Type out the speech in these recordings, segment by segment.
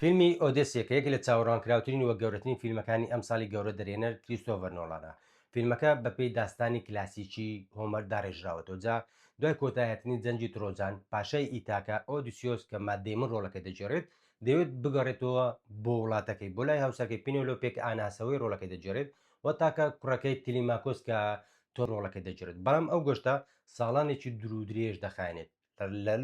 فیلمی ئۆدێسیە کە یەکێک لە چاوەڕوانکراوترین و گەورەترین فیلمەکانی ئەمساڵی گەورە دەرهێنەر کریستۆڤەر نۆڵانە، فیلمەکە بەپێی داستانی کلاسیکی هۆمەر داڕێژراوەتەوە جا دوای کۆتایهاتنی جەنگی ترۆجان، پاشای ئیتاکا، ئۆدیسیۆس کە مات دەیمن ڕۆڵەکەی دەگێڕێت دەیەوێت بگەڕێتەوە بۆ وڵاتەکەی بۆ لای هاوسەرەکەی پینێلۆپێ کە ئان هاسەوەی ڕۆڵەکەی دەگێڕێت و تاکە کوڕەکەی تلیماکۆس کە تۆ ڕۆڵەکەت دەگێڕێت، بەڵام ئەو گەشتە ساڵانێکی دوورودرێژ دەخایەنێت،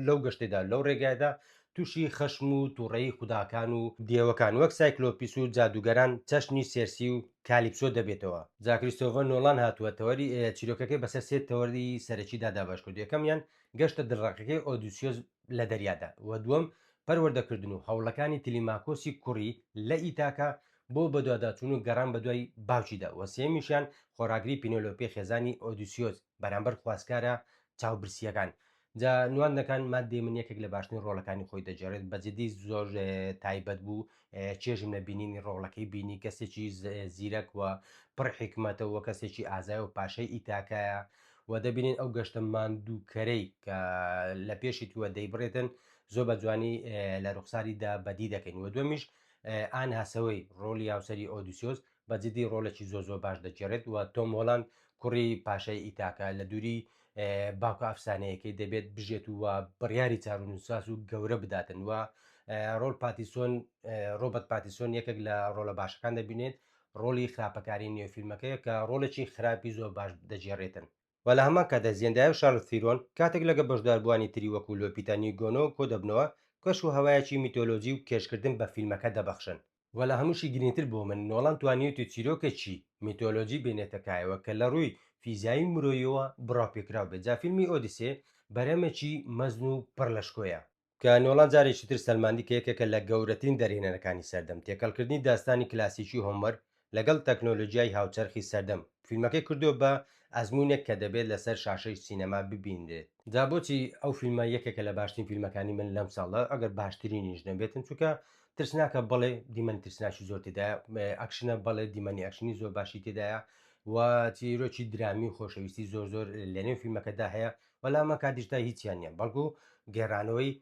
لەو گەشتەدا، لەو ڕێگایەدا تووشی خەشم و تووڕەیی خوداکان و دێوەکان وەک سایکلۆپیس و جادووگەران چەشنی سێرسی و کالیپسۆ دەبێتەوە. جا کریستۆڤەر نۆڵان هاتووە تەوەری چیرۆکەکەی بەسەر سێ تەوەری سەرەکیدا دابەش کردووە، یەکەمیان گەشتە دڵڕەقەکەی ئۆدیسیۆس لە دەریادا و دووەم پەروەردەکردن و هەوڵەکانی تلیماکۆسی کوڕی لە ئیتاکا بۆ بەدواداچوون و گەڕان بەدوای باوکیدا و سێیەمیشیان خۆڕاگری پینۆلۆپی خێزانی ئۆدیسیۆس بەرامبەر خواستگارە چاوبرسییەکان. جا نواندنەکان مات دەیمن یەکێک لە باشترین ڕۆڵەکانی خۆی دەگێڕێت بە جدی زۆر تایبەت بوو چێژم لە بینینی ڕۆڵەکەی بینی کەسێکی زیرەک و پڕ حیکمەتە و کەسێکی ئازای و پاشای ئیتاکایە و دەبینین ئەو گەشتە ماندووکەرەی کە لە پێشی تووە دەیبڕێتن زۆر بە جوانی لە ڕوخساریدا بەدی دەکەین و دومیش ئان هاسەوەی ڕۆڵی هاوسەری ئۆدیسیۆس بە جدی ڕۆڵێکی زۆ زۆ باش دەگێڕێت و تۆم هۆلاند کوڕی پاشای ئیتاکە لە دووری باوکە ئەفسانەیەکەی دەبێت بژێت و بڕیاری چارونوساس و گەورە بداتن و ڕۆل پاتیسۆن ڕۆبەت پاتیسۆن یەکێک لە ڕۆلە باشەکان دەبینێت ڕۆلی خراپەکاری نێوفیلمەکەیە کە ڕۆلێکی خراپی زۆر باش دەجێڕێتن و لە هەمان کاتدا زیندایا و شارلز تیرۆن کاتێک لەگەڵ بەشداربووانی تری وەکوو لۆپیتا نیگۆنۆ کۆدەبنەوە، کەش و هەوایەکی میتۆلۆجی و کێشکردن بە فیلمەکە دەبەخشن. و لە هەمووشی گرینگتر بۆ من، نۆڵان توانیویەتی چیرۆکێکی میتۆلۆجی بێنێتە کایەوە کە لە ڕووی فیزیایی و مرۆییەوە بڕاوپێکراو بێت، جا فیلمی ئۆدیسێ بەرهەمێکی مەزن و پڕ لە شکۆیە، کە نۆڵان جارێکی تر سەلماندی کە یەکێکە لە گەورەترین دەرهێنەرەکانی سەردەم، تێکەڵکردنی داستانی کلاسیکی هۆمەر لەگەڵ تەکنۆلۆجیای هاوچەرخی سەردەم، فیلمەکەی کردووە بە ئەزموونێک کە دەبێت لەسەر شاشەی سینەما ببینرێت. جا بۆچی ئەو فیلمە یەکێکە لە باشترین فیلمەکانی من لەم ساڵە، ئەگەر باشترینیش نەبێتن، چونکە ترسناکە، بەڵێ دیمەنی ترسناکی زۆر تێدایە، ئەکشنە، بەڵێ دیمەنی ئەکشنی زۆر باشی تێدایە و چیرۆکی درامی و خۆشەویستی زۆر زۆر لەنێو فیلمەکەدا هەیە، بەلام ئەکا دیجیتای هیچیان نییە بەڵکو گێرانەوەی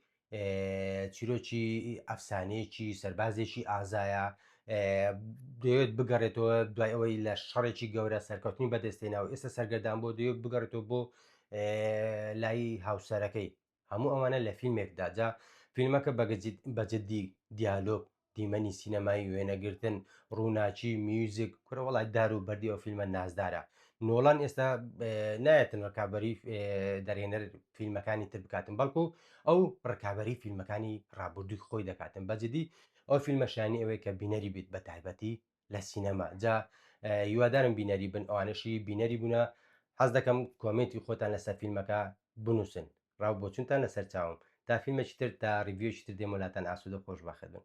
چیرۆکی ئەفسانەیەکی سەربازێکی ئازایە دەوێت بگەڕێتەوە دوای ئەوەی لە شەڕێکی گەورە سەرکەوتنی بەدەستێنا و ئێستا سەرگەردان بۆ دەوێت بگەڕێتەوە بۆ لای هاوسەرەکەی هەموو ئەوانە لە فیلمێکداجا فیلمەکە بەگەجیت بەجددی دیالۆک دیمەنی سینەمایی وێنەگرتن ڕووناچی میوزیک کورە وڵات دار و بەردی ئەو فیلمە نازدارە نۆڵان ئێستا نایەتن ڕکابی دەرێنەر فیلمەکانی تر بکاتن بەڵکو ئەو ڕکابی فیلمەکانی ڕابردووی خۆی دەکاتن بەجددی ئەو فیلمە شانی ئەوەیە کە بینەری بیت بە تایبەتی لە سینەما جا هیوادارم بینەری بن ئەوانشی بینەری بوونە حەز دەکەم کۆمێنتی خۆتان لەسەر فیلمەکە بنووسن ڕاو بۆچونتان لەسەر چاوم تا فیلمێکی تر تا ڕیڤیۆکی تر دێمولاتان ئاسوودە خۆش بەخەبن